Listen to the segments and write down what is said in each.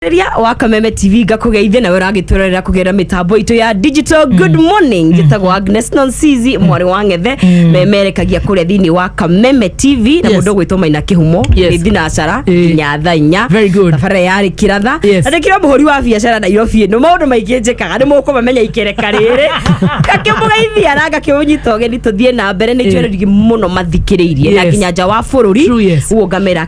Ria wa Kameme TV ngakũgeithia nawe ũragĩtũrorera kũgerera mĩtambo itũ ya digital good morning njĩtagwo Agnes Nonsizi mwarĩ wa ng'ethe memerekagia kũrĩa thĩinĩ wa Kameme TV na Yes. mũndũ ũgwĩtwo Maina Kĩhumo Yes. nĩ thinacara Eh. nginya thaa inya Very good. thabarĩra yarĩ kĩratha Yes. na ndĩkĩra mũhũri wa biacara Nairobi ĩno maũndũ maingĩ njĩkaga nĩ mũkũmamenya ikereka rĩrĩ ngakĩmũgeithia na ngakĩũnyita ũgeni tũthiĩ na mbere nĩ Eh. itwererigi mũno mathikĩrĩirie na Yes. nginya nja wa bũrũri True, yes. guo ngamera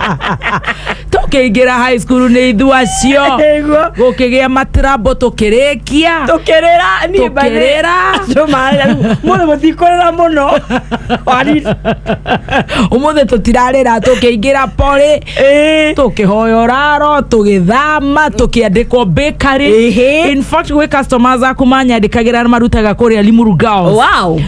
tũkĩingĩra high school nĩ ithua cio Nĩguo. gũkĩgĩa matrambo tũkĩrĩkia tukirira ni Tũkĩrĩra. muno mutikurira muno wari ũmũthĩ tũtirarĩra tũkĩingĩra porĩ eh tũkĩhoya ũraro tũgĩthama tũkĩandĩkwo bakery Ehe. in fact gwĩ customers aku manyandĩkagĩra marutaga kũrĩa limuru girls wow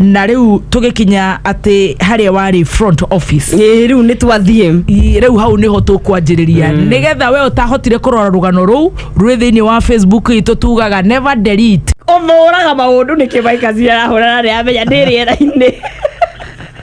na riu tugikinya ati haria wari front office Ĩĩ, rĩu nĩ twathiĩ I- rĩu hau nĩho tũkwanjĩrĩria mm. nĩgetha we ũtahotire kũrora rũgano rũu rwĩ thĩinĩ wa facebook itũ tugaga never delete ũmũraga maũndũ nĩ kĩmaikazi arahũrana nĩ amenya ndĩ rĩera-inĩ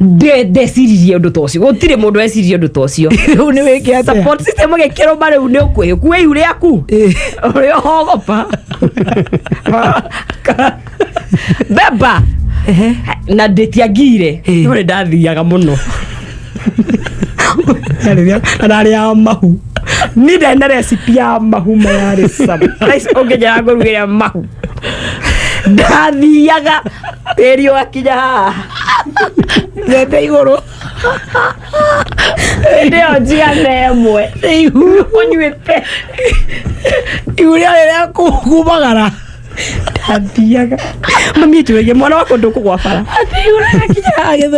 Nde- ndeciririe ũndũ ta ũcio gũtirĩ mũndũ weciririe ũndũ ta ũcio Rĩu nĩ wĩke atĩa? support system ĩgĩkĩrwo ma rĩu nĩ ũkwĩhĩ kuwa ihu rĩaku Eh. ũrĩa hogopa beba Ehe. na ndĩtiangire Eh. no nĩ ndathiaga mũno na narĩ ya mahu nindene recipi ya mahu mayarĩ sama ũngĩnjara ngũrugĩra mahu ndathiaga tĩri wakinya haha thete igũrũ hĩndĩ ĩyo njigana ĩmwe ũnyuĩte igu rĩa rĩrĩa kumagara ndathiaga mami njũrĩrie mwana wakwa ndũkũgwa bara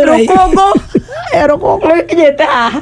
rũkũngũ rũkũngũ rũkinyĩte haha